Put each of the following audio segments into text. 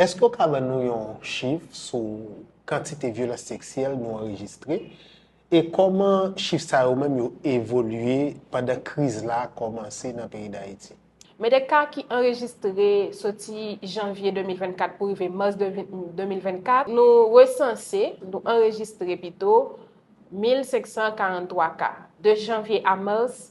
Èske w ka ban nou yon chif sou kantite vyolans seksyèl nou anrejistre e kòman chif sa yo menm yo evolye pandan kriz la kòmanse nan peyi Dayiti? Men de ka ki anrejistre soti janvye 2024 pou rive mas 2024, nou resanse, nou anrejistre pito, 1543 ka. De janvye a mas,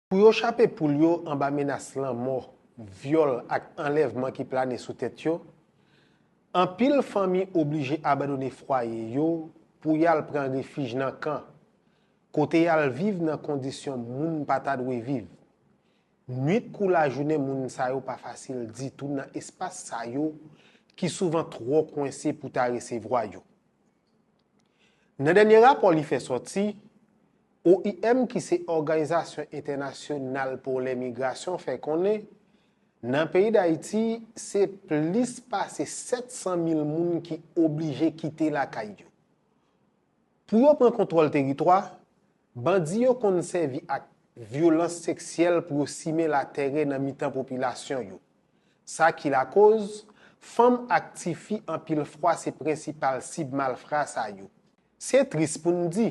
Pou yo chape poul yo anba menas lanmò, vyòl ak anlèvman ki plane sou tèt yo, anpil fanmi oblije abandone fwaye yo pou y al pran refij nan kan, kote y al viv nan kondisyon moun pa ta dwe viv. Nuit kou lajounen moun sa yo pa fasil ditou nan espas sa yo ki souvan twò kwense pou ta resevwa yo. Nan dènye rapò li fè sòti, oim ki se òganizasyon entènasyonal pou lemigrasyon fè konnen, nan peyi Dayiti, se plis pase 700 mil moun ki oblije kite lakay yo. Pou yo pran kontwòl teritwa, Bandi yo konn sèvi ak vyolans seksyèl pou yo simen latèrè nan mitan popilasyon yo. Sa ki lakoz, fanm ak tifi anpil fwa se prensipal sib malfra sa yo. Se tris pou n di,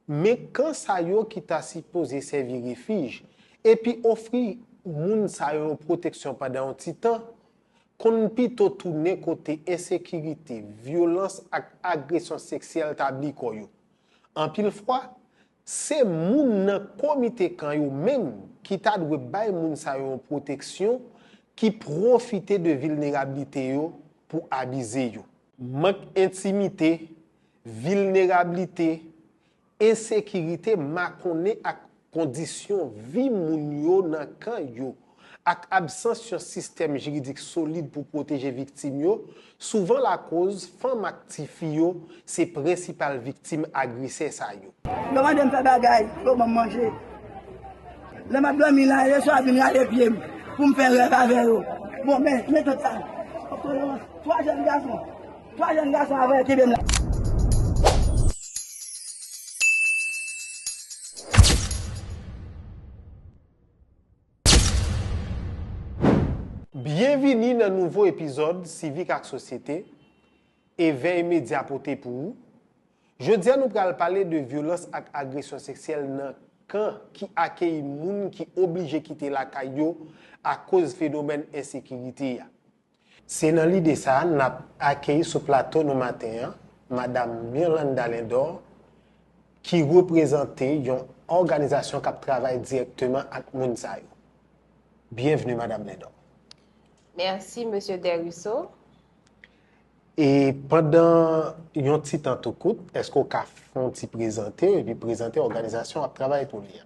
men kan sa yo ki ta sipoze sèvi refij, epi ofri moun sa yo yon pwoteksyon pandan yon ti tan, konn pito tounen kote ensekirite, vyolans ak agresyon seksyèl tabli kò yo. Anpil fwa, se moun nan komite kan yo menm ki ta dwe bay moun sa yo yon pwoteksyon ki pwofite de vilnerablite yo pou abize yo. Mank entimite, vilnerablite, ensekirite makonnen ak Kondisyon vi moun yo nan kan yo, ak absans yon sistèm jiridik solid pou pwoteje viktim yo, souvan lakoz fanm ak tifi yo se prensipal viktim agresè sa yo. Lè mande m fè bagay, yo ban m manje. Lè m ap dòmi la, yo chwa vin rale pye m pou m fè rèv avè yo. Bon, men, men tant sa. Otolorans, twa jèn gason, twa jèn gason a voye kenbe m la. Byenvini nan nouvo epizòd Sivik ak Sosyete, Evèy Medya pote pou ou. Jodi a nou pral pale de vyolans ak agresyon seksyèl nan kan ki akeyi moun ki oblije kite lakay yo akoz fenomèn ensekirite a. Se nan lide sa a n ap akeyi sou plato nou maten an Madam Mirlanda Lindor ki reprezante yon òganizasyon k ap travay dirèkteman ak moun sa yo. Byenvni Madam Lindor. Mèsi Mesye Desruisseaux. E pandan yon ti tan tou kout, èske w ka fon ti prezante epi prezante òganizasyon w ap travay pou li a?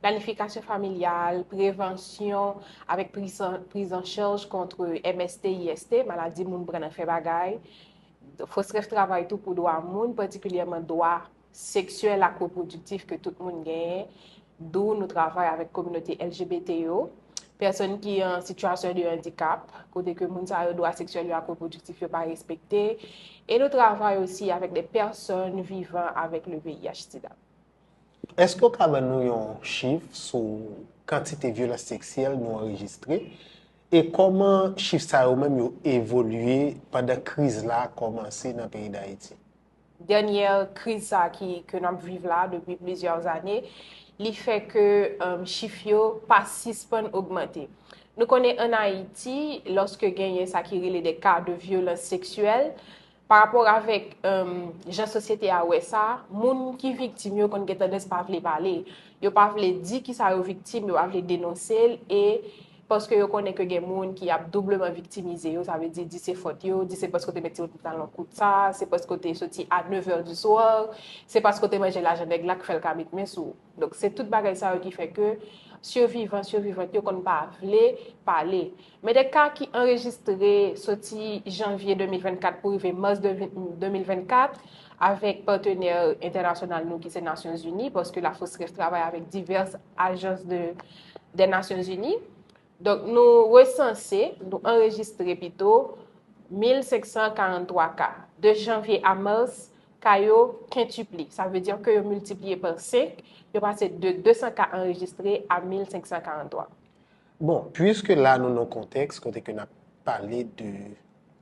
planifikasyon familyal, prevansyon avèk prizanchaj kont MST, IST, maladi moun pran nan fè bagay, fos rèv travay tou pou dwa moun, patikilyèman dwa seksyèl ak repwodiktif ke tout moun genyen, dou nou travay avèk kominote LGBT yo, pèsòn ki an sitiyasyon de andikap, kote ke moun sa yo dwa seksyèl yo ak repwodiktif yo pa respekte, e nou travay osi avèk de pèsòn vivan avèk le VIH-Sida. Èske w ka ban nou yon chif sou kantite vyolans seksyèl nou anrejistre? E kòman chif sa yo menm yo evolye pandan kriz la kòmanse nan peyi Dayiti? Dènyè kriz sa ki ke n ap viv la depi plizyè ane, li fè ke chif yo pa sispann ogmante. Nou konnen ann Ayiti, lòske genyen sa ki rele de ka de vyolans seksyèl, Pa rapò avèk jan sosyete a wè sa, moun ki viktim yo konn gen tandans pa vle pale. Yo pa vle di ki sa yo viktim, yo pa vle denonse l, e paske yo konnen ke gen moun ki ap doubleman viktimize yo, sa vle di, di se fòt yo, di se paske w te met ti pantalon kout sa, se paske w te soti a 9 è di swa, se paske w te manje lajan nèg la k fè l ka met men sou ou. Donk se tout bagay sa yo ki fè ke sivivan, sivivant yo konn pa vle pale. Men de ka ki anrejistre soti janvye 2024 pou rive mas 2024 avèk patenè entènasyonal nou ki se Nasyon Zini, paske Lafosref travay avèk divès ajans de Nasyon Zini, Donk nou resanse, nou anrejistre pito, 1543 ka. De janvye a mars, ka yo kentipli. Sa vle dire ke yo miltipliye pa 5, yo pase de 200 ka anrejistre a 1543. Bon, puiske la nou nan kontèks kote ke nap pale de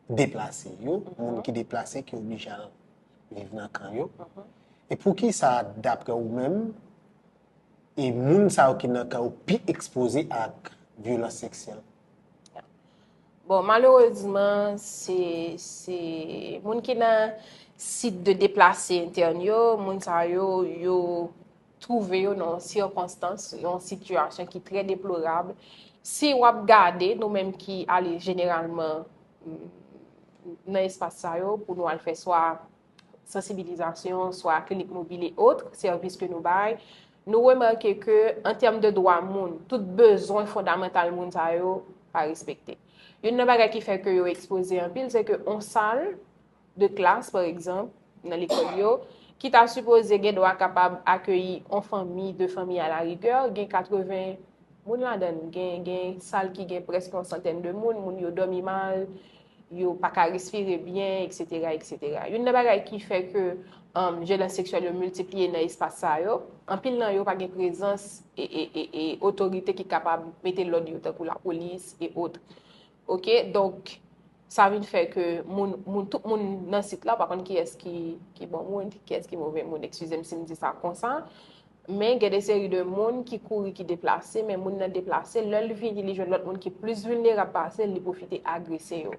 deplase yo, moun ki deplase ki oblije al viv nan kan yo, e poukisa dapre ou menm, E moun sa yo ki nan ka yo pi ekspoze ak vyolans seksyèl. Bon, malerezman, se moun ki nan sit de deplase entèn yo, moun sa yo, yo twouve yo nan yon sikonstans, yon sitiyasyon ki trè deplorab. Si w ap gade, nou menm ki ale jeneralman nan espas sa yo, pou nou al fè swa. sansibilizasyon, swa klinik mobil e otre sèvis ke nou bay, nou remake ke an tèm de dwa moun, tout bezwen fondamantal moun sa yo pa respekte. Youn nan bagay ki fè ke yo ekspoze anpil, se ke yon sal de klas, pa egzanp, nan lekòl yo, ki ta sipoze gen dwa kapab akeyi yon fanmi, de fanmi a la rigè, gen 80 moun ladan l, gen sal ki gen prèske yon santèn de moun, moun yo dòmi mal, yo pa ka respire byen, eksetera, eksetera. Youn nan bagay ki fè ke vyolanse seksyèl yo miltipliye nan espas sa yo, anpil nan yo pa gen prezans e otorite ki kapab mete lòd yo tankou lapolis e otre. Ok, donk, sa vin fè ke moun, moun, tout moun nan sit la pa konn kiyès ki bon moun, kiyès ki move moun, ekskize m si m di sa konsa. Men gen de seri de moun ki kouri ki deplase, men moun nan deplase, lè l vini li jwenn lòt moun ki plis vilnerab pase l, li pwofite agrese yo.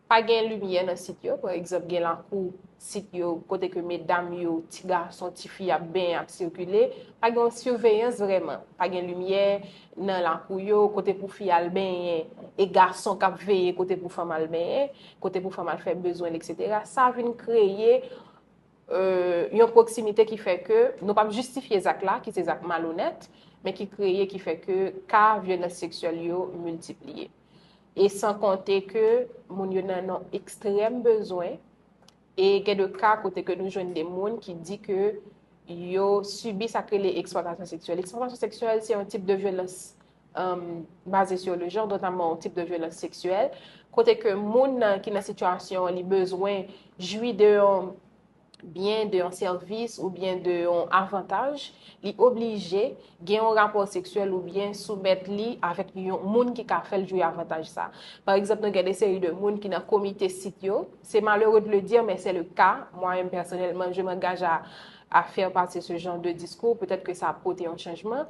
Pa gen limyè nan sit yo, pa egzanp gen lakou sit yo kote ke medam yo, ti gason, ti fi ap benyen, ap sikile, pa gen yon siveyans vrèman, pa gen limyè nan lakou yo, kote pou fi al benyen, e gason k ap veye kote pou fanm al benyen, kote pou fanm al fè bezwen l eksetera, sa vin kreye yon pwoksimite ki fè ke nou pap jistifye zak la, ki se zak malonèt, men ki kreye ki fè ke ka vyolans seksyèl yo miltipliye. E san konte ke moun yo nan yon ekstrèm bezwen, e gen de ka kote ke nou jwenn de moun ki di ke yo sibi sa ki rele eksplwatasyon seksyèl. Eksplwatasyon seksyèl se yon tip de vyolans baze sou le jan, notamman ou tip de vyolans seksyèl, kote ke moun nan ki nan sitiyasyon li bezwen jwi de yon byen, de yon sèvis ou byen de yon avantaj, li oblije gen yon rapò seksyèl ou byen soumèt li avèk yon moun ki ka fèl jwi avantaj sa. Par egzanp, nou gen de seri de moun ki nan komite sit yo, se malere de le dire, men se le ka, mwa menm pèsonèlman, je m'engage a fèr pati se jan de diskou, petèt ke sa pote yon chanjman,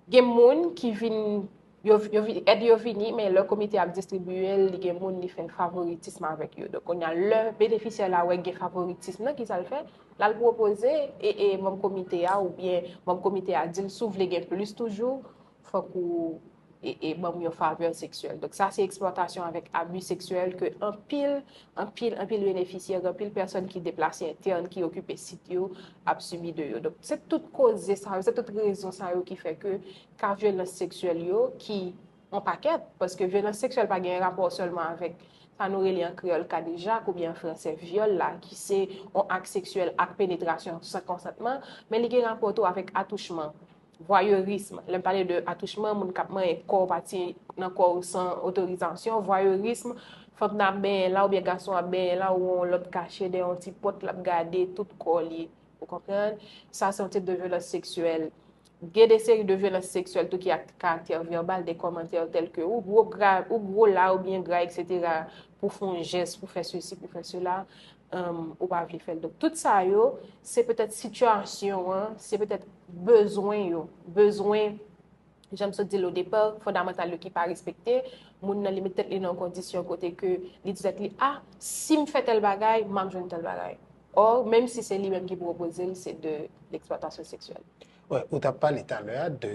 Gen moun ki vin, yo, yo vin, èd yo vini, men lè komite ap distribiye l, li gen moun li fè favoritism avèk yo. Donk kounye a, lè benefisyè la wè gen favoritism nan, ki sa l fè? L al pwopoze e, e manm komite a oubyen manm komite a di l, si w vle gen plis toujou, fòk ou e, e ban m yon favè seksyèl. Donk sa se eksplwatasyon avèk abi seksyèl ke anpil, anpil, anpil benefisyè, gen anpil pèsòn ki deplase entèn, ki okipe sit yo, ap sibi de yo. Donk, se tout koze sa yo, se tout rezon sa yo ki fè ke ka vyolans seksyèl yo ki an pakèt, paske vyolans seksyèl pa gen rapò sèlman avèk sa nou rele an kreyòl kadejak oubyen an fransè vyòl la ki se yon ak seksyèl ak penetrasyon san konsantman, men li gen rapò tou avèk atouchman. Voyeurisme, lè m pale de atouchman, moun k ap manyen kò w, pati nan kò w san otorizasyon, voyeurisme, fanm nan ap benyen la oubyen gason ap benyen la ou wè yon lòt kache dèyè yon ti pòt l ap gade tout kò li, ou konprann? Sa se yon tip de vyolans seksyèl. Gen de seri de vyolans seksyèl tou ki a karaktè vèbal, de kòmantè tèlke ou gwo gra, ou gwo la, ou byen gra eksetera pou fè yon jès, pou fè sesi, pou fè sela. ou pa vle fèl. Donk tout sa yo, se petèt sitiyasyon an, se petèt bezwen yo, bezwen, jan m sot di l o depa, fondamantal yo ki pa respekte, moun nan li met tèt li nan yon kondisyon kote ke li di tèt li, a, si m fè tèl bagay, m ap jwenn tèl bagay. Or, menm si se li menm ki pwopoze l, se de l eksplwatasyon seksyèl. Ou t ap pale talè a de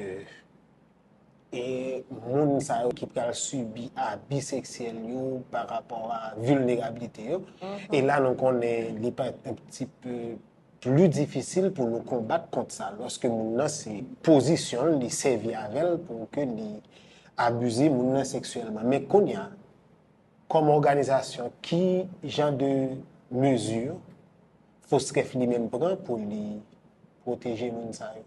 E moun sa yo ki pral sibi abi seksyèl yo pa rapò a vilnerabilite yo. E la nou konnen li pa un pti peu pli difisil pou nou konbat kont sa. Lòske moun nan se pozisyon l, li sèvi avè l pou ke li abize moun nan seksyèlman. Men kounye a, kòm òganizasyon, ki jan de mezi FOSCREF li menm pran pou li pwoteje moun sa yo?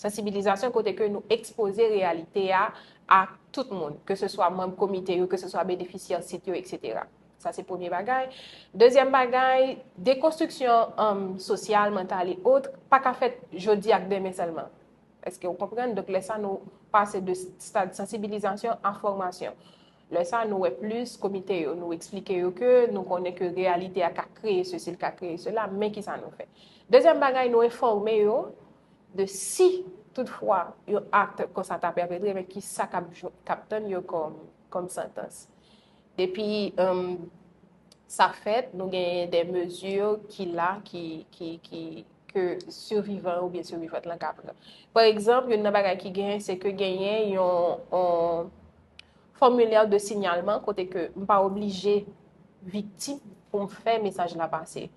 Sansibilizasyon kote ke nou ekspoze reyalite a a tout moun, ke se swa manb komite yo, ke se swa benefisyè sit yo, etc. Sa se premye bagay. Dezyèm bagay, dekonstriksyon sosyal, mantal e ot, pa ka fèt jodi ak demen sèlman. Eske ou konprann? Donk lè sa nou pase de stad sansibilizasyon a fòmasyon. Lè sa nou wè plis komite yo, nou eksplike yo ke nou konnen ke reyalite a ka kreye sesi, li ka kreye sela, men ki sa nou fè. Dezyèm bagay, nou enfòme yo de si tout fwa yon akt konsa ta pèpetre, men ki sa k ap tann yo kòm santans. Depi sa fèt, nou genyen de mezi ki la, ki... ke sivivan yo oubyen sivivant lan ka pran. Pa egzanp, youn nan bagay ki genyen, se ke genyen yon fòmilè de sinyalman kote ke m pa oblije viktim pou m fè mesaj la pase.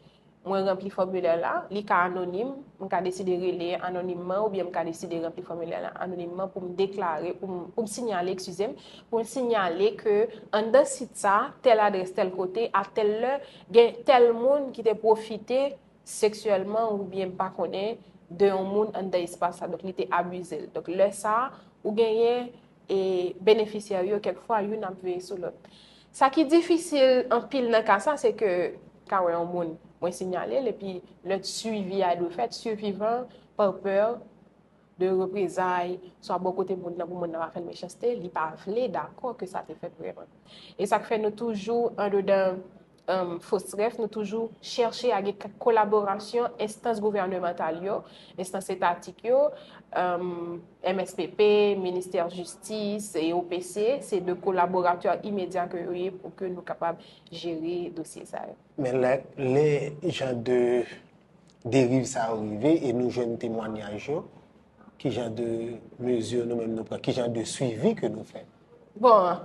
Mwen ranpli fòmilè la, li ka anonim, m ka deside rele anonimman oubyen m ka deside ranpli fòmilè la anonimman pou m deklare, pou m sinyale, ekskize m, pou m sinyale ke anndan sit sa, tèl adrès, tèl kote, a tèl lè, gen tèl moun ki te pwofite. seksyèlman oubyen m pa konnen de yon moun anndan espas sa, donk li te abize l. Donk lè sa, ou genyen e benefisyè yo kèk fwa youn ap veye sou lòt. Sa ki difisil anpil nan ka sa se ke ka wè yon moun mwen sinyale l epi lè swivi a dwe fèt, sivivan pa pè de reprezay swa bò kote moun nan pou moun nan pa fè l mechanste, li pa vle dakò ke sa te fèt vrèman. E sa k fè nou toujou andedan FOSREF, nou toujou chèche a gen kolaborasyon enstans gouvènemantal yo, enstans etatik yo, mspp, ministè jistis, OPC, se de kolaboratè imedya ke yo ye pou ke nou kapab jere dosye sa yo. Men lè jan de deriv sa yo rive e nou jwenn temwanyaj yo, ki jan de mezi nou menm nou pran, ki jan de swivi ke nou fè? Bon,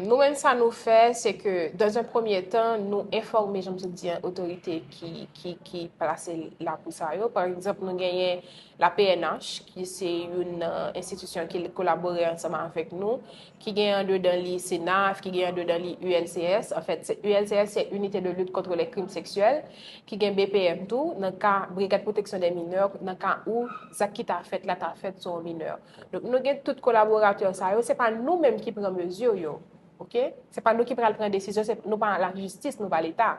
nou menm sa nou fè, se ke, dan zan premye tan, nou enfòme, jan m sot di an, otorite ki plase la pou sa yo. Pa egzanp, nou genyen la pnh, ki se youn nan enstitisyon ki kolabore ansanm avèk nou, ki genyen an dedan li CNAF, ki genyen an dedan li ULCS. An fèt, ULCS se Unité de Lutte Contre les Crimes Sexuels, ki gen BPM tou, nan ka Brigade Protection des Mineurs, nan ka ou zak ki ta fèt la ta fèt sou yon mineur. Donk nou gen tout kolaboratè sa yo, se pa nou menm ki pran mezi yo. Ok? Se pa nou ki pral pran desizyon, se nou pa la jistis, nou pa leta.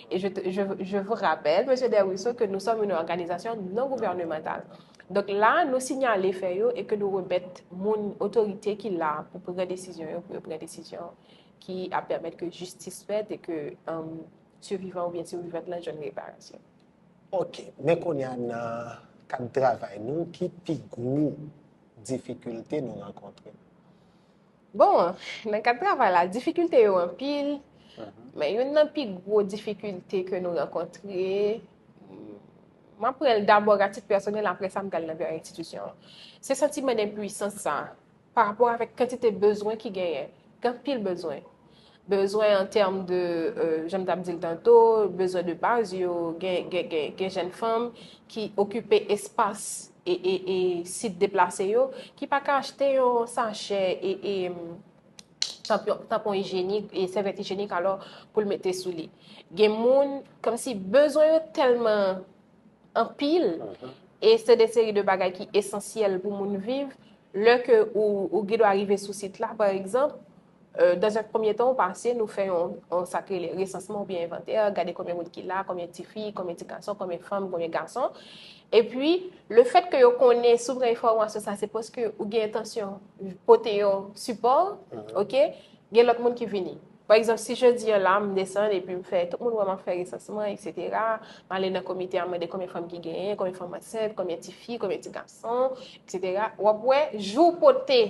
E je je vous rappelle, Mesye Desruisseaux, ke nou sòm yon òganizasyon non gouvènemantal. Donk la, nou sinyale fè yo e ke nou remèt moun otorite ki la pou pran desizyon yo, pou yo pran desizyon ki ap pèmèt ke jistis fèt e ke sivivan oubyen sivivan lan jwenn reparasyon. Ok, men kounye a nan kad travay nou ki pi gwo difikilte nou rankontre? Bon, nan kad travay la, difikilte yo anpil, men youn nan pi gwo difikilte ke nou rankontre, mwen pran l dabò atik pèsonèl apre sa m pral nan enstitisyon an. Se santiman denpuisans sa a. pa rapò avèk kantite bezwen ki genyen. Gen anpil bezwen. Bezwen an tèm de, jan m t ap di l tanto, bezwen de baz yo, gen jenn fanm ki okipe espas e sit deplase yo, ki pa ka achte yon sachè e tanpon ijyenik e sèvyèt ijyenik alò pou l mete sou li. Gen moun, kòmsi bezwen yo tèlman anpil e se de seri de bagay ki esansyèl pou moun viv, lè ke ou gen dwa rive sou sit la, pa egzanp, dan un premye tan ou pase nou fè yon sa ki rele resansman oubyen envantè, gade konbyen moun ki la, konbyen ti fi, konbyen ti gason, konbyen fanm, konbyen gason, epi le fèt ke yo konnen si w gen enfòmasyon sa se paske ou gen entansyon pote yon sipò, ok, gen lòt moun ki vini. Pa egzanp, si jodi an la m desann epi m fè, tout moun wè m ap fè resansman, eksetera, m ale nan komite a m mande konbyen fanm ki genyen, konbyen fanm ansent, konbyen ti fi, konbyen ti gason, eksetera, w ap wè, jou w pote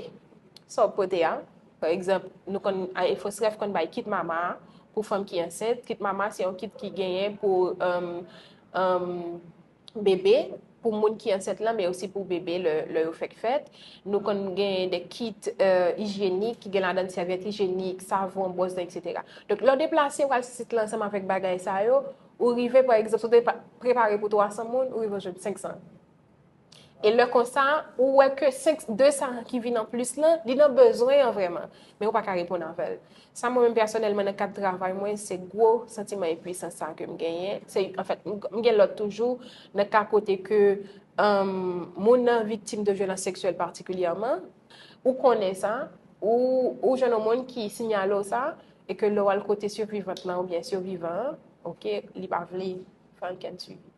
sa w pote a, pa egzanp, nou konn, EFOSREF konn bay kit mama a pou fanm ki ansent, kit mama se yon kit ki genyen pou, emm, emm. bebe, pou moun ki ansent lan, men osi pou bebe lè yo fèk fèt. Nou konn gen de kit ijyenik ki gen ladan sèvyèt ijyenik, savon, bwòs dan, etc. Donk, lè w deplase ou al sou sit lan ansanm avèk bagay sa yo, ou rive, pa egzanp, si w te prepare pou 300 moun, ou rive ou jwenn 500. E lè konsa, ou wè ke 200 ki vin anplis lan, li nan bezwen an vrèman, men ou pa ka reponn avè l. Sa mwen menm pèsonèlman nan kad travay mwen, se gwo santiman enpuisan sa ke m genyen. Se, anfèt, m gen lòt toujou nan ka kote ke moun nan viktim de vyolans seksyèl patikilyèman, ou konnen sa, ou jwenn yon moun ki sinyale w sa, e ke lè w al kote sivivant lan oubyen sivivan an, ok, li pa vle fè ankenn swivi.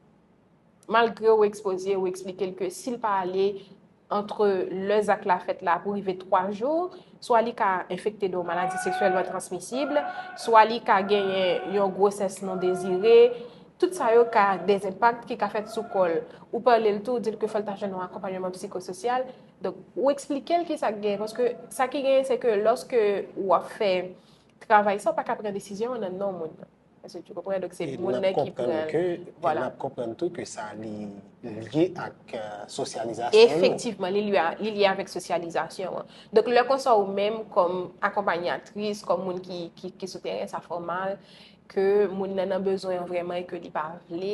Malgre ou ekspoze, ou eksplike l ke si l pa ale antre lè zak la fèt la pou rive 3 jou, swa li ka enfekte de yon maladi seksyèlman transmisib, swa li ka genyen yon gwosès non dezire, tout sa yo ka de enpak ki ka fèt sou kò l. Ou pale l tou, ou di l ke fò l ta jwenn yon akonpanyeman psikososyal. Donk, ou eksplike l ki sa k genyen. Paske sa ki genyen se ke lòske ou ap fè travay sa, ou pa ka pran desizyon an nan non moun nan. Èske tu konprann? Donk se moun nan ki pran. Nap konprann ke, e nap konprann tou ke sa li lye ak sosyalizasyon yo. Efektivman, li lye avèk sosyalizasyon an. Donk lè konsa ou menm kòm akonpanyatris, kòm moun ki sou teren, sa fè w mal ke moun nan nan bezwen an vrèman e ke li pa vle.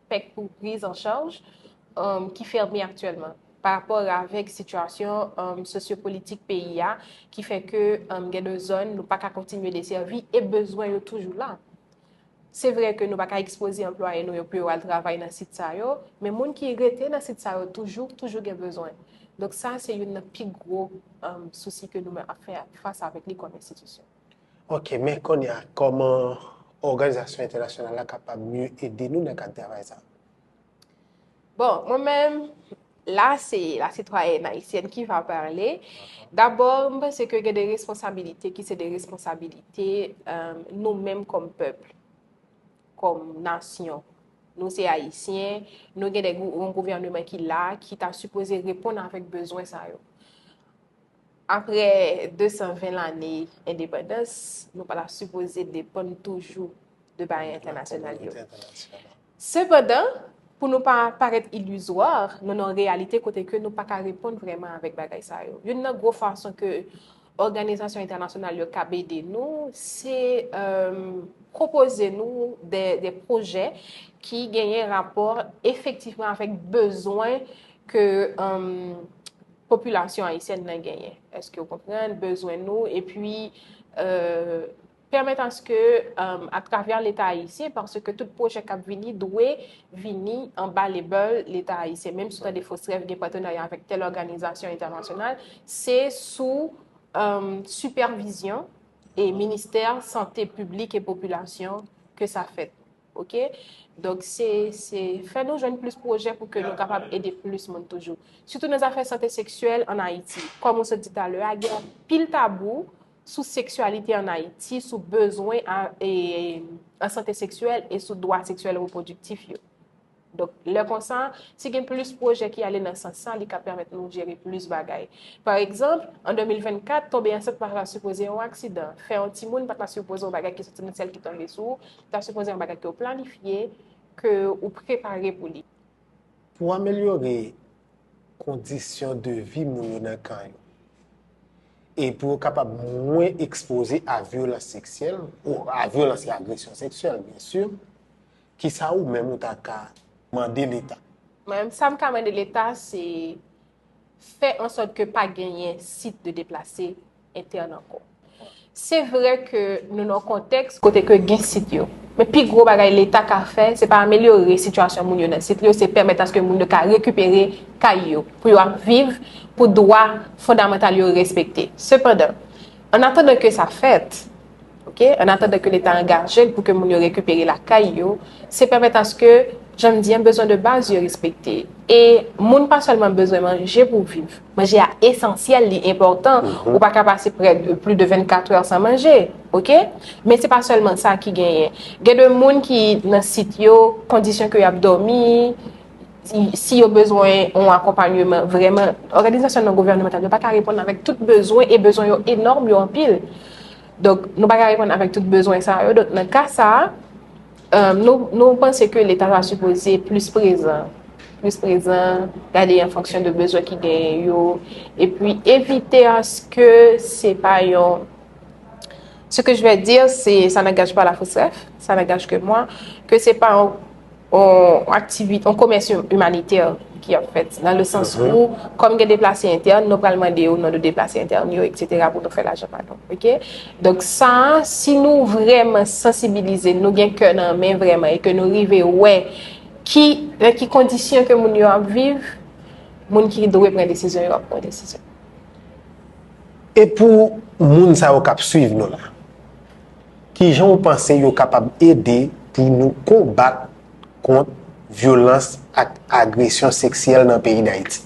pèk pou priz an chaj ki fèmen aktyèlman pa rapò avèk sitiyasyon sosyopolitik peyi a ki fè ke gen de zòn nou pa ka kontinye desèvi e bezwen yo toujou la. Se vre ke nou pa ka ekspoze anplwaye nou yo pou yo al travay nan sit sa yo, men moun ki rete nan sit sa yo toujou, toujou gen bezwen. Donk sa se youn nan pi gwo sousi ke nou menm ap fè fas avèk li kòm enstitisyon. Ok, men kounye a, kòman òganizasyon entènasyonal la kapab mye ede nou nan kad travay sa a? Bon, mwen menm, la se la sitwayèn ayisyèn ki va pale. Dabò, m panse ke gen de responsabilite ki se de responsabilite nou menm kòm pèp, kòm nasyon. Nou se ayisyen, nou gen yon gouvèneman ki la, ki ta sipoze reponn avèk bezwen sa yo. Aprè 220 lane endepandans, nou pa ta sipoze depann toujou de barè entènasyonal yo. Sepandan, pou nou pa parèt ilizwa, nou nan yon reyalite kote ke nou pa ka reponn vrèman avèk bagay sa yo. Youn nan gwo fason ke òganizasyon entènasyonal yo kab ede nou, se pwopoze nou de pwojè ki genyen rapò efektifman avèk bezwen ke, popilasyon ayisyèn nan genyen, èske ou konprann bezwen nou, epi pèmèt aske atravè leta ayisyen, paske tout pwojè kap vini dwe vini anba lebèl leta ayisyen, menm sou tande FOSREF gen patenarya avèk tèl òganizasyon entènasyonal, se sou sipèvizyon e ministè sante piblik e popilasyon ke sa fèt. Ok donk se se fè nou jwenn plis pwojè pou ke nou kapab ede plis moun toujou. Sitou nan zafè sante seksyèl an Ayiti. Kòm ou sot di talè a, gen anpil tabou sou seksyalite an Ayiti, sou bezwen an sante seksyèl e sou dwa seksyèl repwodiktif yo. Donk, lè konsa, si gen plis pwojè ki ale nan sans sa, li ka pèmèt nou jere plis bagay. Pa egzanp, an 2024, tonbe ansent pa ta sipoze yon aksidan. Fè yon timoun pa ta sipoze yon bagay ki soti nan syèl ki tonbe sou ou, li ta sipoze yon bagay ke ou planifye, ke ou prepare pou li. Pou amelyore kondisyon de vi moun yo nan kan yo, e pou yo kapab mwen ekspoze a vyolans seksyèl, a vyolans e agresyon seksyèl, byensi, Kisa ou menm ou ta ka mande leta? Mwen menm sa m ka mande leta se fè an sòt ke pa genyen sit de deplase entèn ankò. Se vre ke nou nan kontèks kote ke gen sit yo. Men pi gwo bagay leta ka fè se pa amelyore sitiyasyon moun yo nan sit yo, se pèmèt aske moun yo ka rekipere kay yo pou yo ap viv, pou dwa fondamantal yo respekte. Sepandan, annatandan ke sa fèt, Ok, an atandan ke leta angaje l pou ke moun yo rekipere lakay yo, se pèmèt aske, jan m di an, bezwen de baz yo respekte. E moun pa sèlman bezwen manje pou viv. Manje a esansyèl, li enpòtan, ou pa ka pase prè de plis de 24 è san manje. Ok, men se pa sèlman sa ki genyen. Gen de moun ki nan sit yo, kondisyon ke y ap dòmi, di si yo bezwen yon akonpanyeman vreman, òganizasyon non gouvènemantal yo pa ka reponn avèk tout bezwen e bezwen yo enòm, yo anpil. Donk nou pa ka reponn avèk tout bezwen sa yo. Donk nan ka sa, nou panse ke leta ta sipoze plis prezan. Plis prezan, gade an fonksyon de bezwen ki genyen yo. E pi evite aske se pa yon... Se ke jwè dir, se sa nan gaj pa la fosref, sa nan gaj ke mwa, ke se pa yon... yon komès imanitè ki ap fèt, nan le sans ou, kòm gen deplase entèn, nou pral mande yo nan de deplase entèn yo, et cetera, pou nou fè lajan pa nou, ok? Donk sa, si nou vreman sansibilize, nou gen kè nan men vreman, e ke nou rive wè, ki, nan ki kondisyon ke moun yo ap viv, moun ki dwe pran desizyon yo ap pran desizyon. E pou moun sa yo kap swiv nou la? Ki jan w panse yo kapab ede pou nou konbat kont vyolans ak agresyon seksyèl nan peyi Dayiti?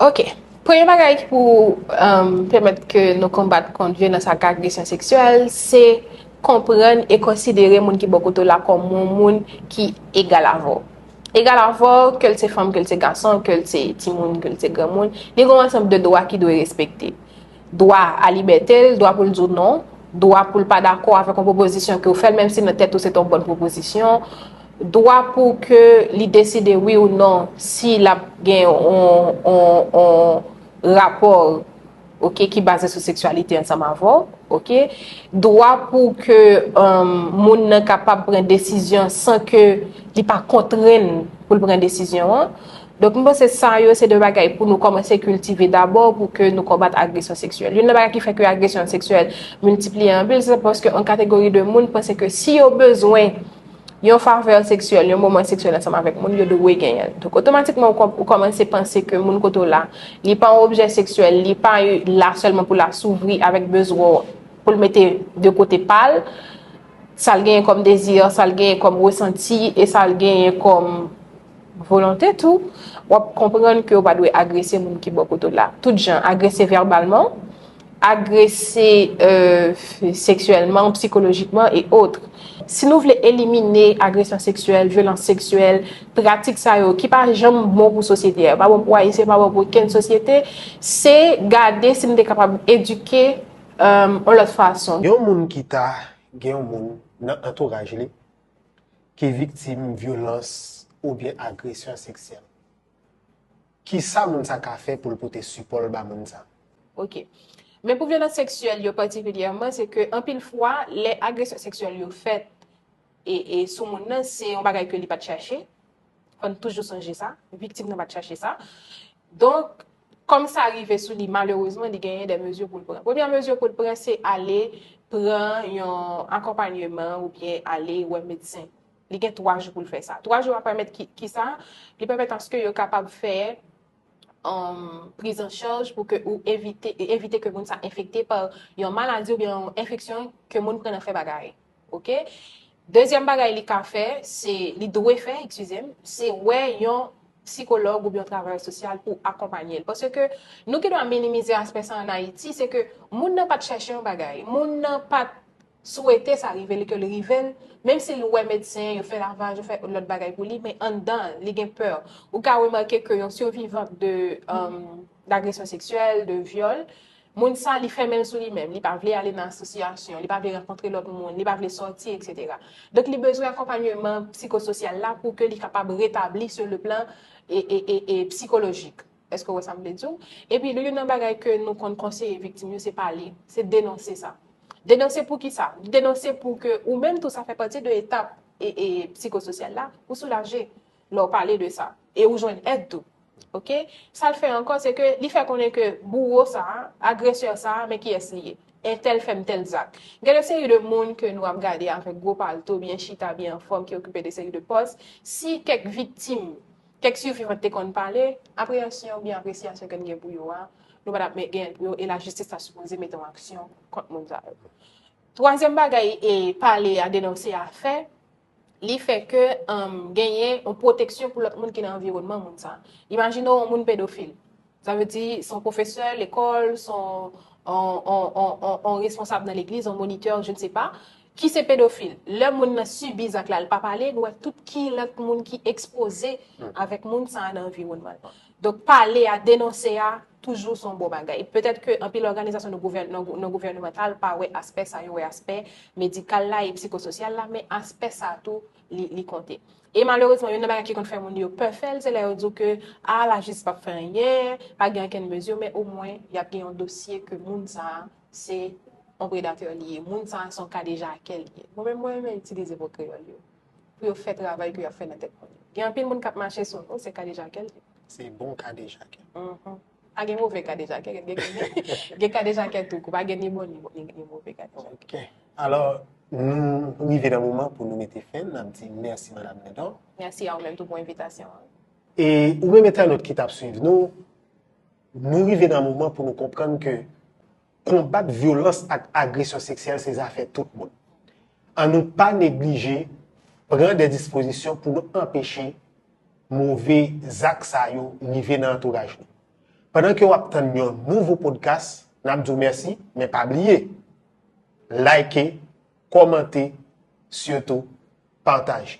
Ok. Premye bagay ki pou pèmèt ke nou konbat kont vyolans ak agresyon seksyèl, se konprann e konsidere moun ki bò kote w la kòm yon moun ki egal avè w. Egal avè w, ke l se fanm, ke l se gason, ke l se timoun, ke l se granmoun, li gen yon ansanm de dwa ki dwe respekte. Dwa a libète l, dwa pou l di w non, dwa pou l pa dakò avèk yon pwopozisyon ke w fè l menm si nan tèt ou se te yon bòn pwopozisyon, dwa pou ke li deside wi ou non si l ap gen yon rapò ok ki baze sou seksyalite ansanm avè w ok, dwa pou ke moun nan kapab pran desizyon san ke li pa kontrenn pou l pran desizyon an. Donk m panse sa yo se de bagay pou nou kòmanse kiltive dabò pou ke nou konbat agresyon seksyèl. Youn nan bagay ki fè ke agresyon seksyèl miltipliye anpil se paske yon kategori de moun panse ke si yo bezwen yon favè seksyèl, yon moman seksyèl ansanm avèk moun, yo dwe genyen l. Donk otomatikman ou kòmanse panse ke moun kote w la, li pa yon objè seksyèl, li pa la sèlman pou l asouvri avèk bezwen w, pou l mete de kote pa l, sa l genyen kòm dezi, sa l genyen kòm resanti e sa l genyen kòm. Volonte tou, w ap konprann ke w pa dwe agrese moun ki bò kote w la. Tout jan, agrese vèbalman, agrese seksyèlman, psikolojikman, e otre. Si nou vle elimine agresyon seksyèl, vyolans seksyèl, pratik sa yo ki pa janm bon pou sosyete a, yo pa bon pou Ayisyen, yo pa bon pou okenn sosyete, se gade si nou te kapab edike yon lòt fason. Yon moun ki ta gen yon moun nan antouraj li ki viktim vyolans oubyen agresyon seksyèl. Kisa moun sa ka fè pou l pote sipò l ba moun sa? Ok. Men pou vyolans seksyèl yo patikilyèman, se ke anpil fwa, lè agresyon seksyèl yo fèt e sou moun nan, se yon bagay ke li pat chache, Fò n toujou sonje sa, viktim nan pa t chache sa. Donk, kòm sa rive sou li, malerezman, li genyen de mezi pou l pran. Premye mezi pou l pran, se ale pran yon akonpanyeman ou byen ale wè medsen. Li gen 3 jou pou l fè sa. 3 jou a pèmèt ki sa? Li pèmèt aske yo kapab fè priz an chaj pou ke ou evite ke moun sa enfekte pa yon maladi ou byen yon enfeksyon ke moun pran nan fè bagay. Ok dezyèm bagay li ka fè se li dwe fè eskize m se wè yon psikològ oubyen yon travayè sosyal pou akonpanye l paske nou gen dwa minimize aspè sa an ayiti se ke moun nan pat chèche yon bagay moun nan pat swete sa rive li ke l rive l menm si l wè medsen yo fè lavaj yo fè lòt bagay pou li men anndan l li gen pè ou ka remake ke yon sivivan de agresyon seksyèl de vyòl Moun sa li fèmen l sou li menm, li pa vle ale nan asosyasyon, li pa vle rankontre lòt moun, li pa vle sòti etc. Donk li bezwen akonpanyeman psikososyal la pou ke li kapab retabli sou le plan psikolojik. Eske w wè sa m vle di w? Epi li youn nan bagay ke nou konn konseye viktim yo se pale, se denonse sa. Denonse pou kisa? Denonse pou ke ou menm tou sa fè pati de etap psikososyal la, ou soulaje. lè w pale de sa e ou jwenn èd tou ok sa l fè ankò se ke li fè konnen ke bouwo sa agresè sa men kiyès li ye entèl fè m tèl zak gen de seri de moun ke nou ap gade avèk gwo palto byen chita byen anfòm ki okipe de seri de pòs si kèk viktim kèk sivivant te konn pale apreyansyon oubyen apresyasyon ke n gen pou yo a nou pa tap men gen l pou yo e lajistis ta sipoze mete yon aksyon kont moun sa yo twazyèm bagay e pale a denonse a fè. li fè ke genyen yon pwoteksyon pou lòt moun ki nan anviwònman moun sa. Imajine yon moun pedofil. Sa vle di, son pwofesè, lekòl, son yon responsab nan legliz, yon monitè, je ne se pa, ki se pedofil. Lè moun nan sibi zak la, li pa pale, nou wè tout ki lòt moun ki ekspoze avèk moun sa nan anviwònman. Donk pale a, denonse a, toujou son bon bagay. Petèt ke anpil òganizasyon non gouvènemantal pa wè aspè sa, yo wè aspè medikal la e psikososyal la, men aspè sa tou li konte. E malerezman, youn nan bagay ki konn fè moun yo pè fè l, se lè yo di w ke, a, lajistis pap fè anyen, pa gen okenn mezi, men omwen yap gen yon dosye ke moun sa a se yon predatè li ye, moun sa a se yon kadejakè li ye. Mwen menm, mwen renmen itilize mo kreyòl yo. pou yo fè travay ke yap fè nan tèt moun yo. Gen anpil moun kap mache sou nou se kadejakè l ye. Se bon kadejakè. Pa gen move kadejakè, gen kadejakè tou kou, pa gen ni bon ni move kadejakè. Ok, alò nou rive nan moman pou nou mete fen, nap di mèsi madam Lindor. Mèsi a ou menm tou pou envitasyon an. E ou menm entènot ki tap swiv nou, nou rive nan moman pou nou konprann ke Konbat vyolans ak agresyon seksyèl se zafè tout moun. An nou pa neglije pran de dispozisyon pou nou anpeche move zak sa yo rive nan antouraj nou. Pandan ke wap tann yon nouvo podcast, nap di w mèsi, men pa bliye Like, kòmante, sitou pataje.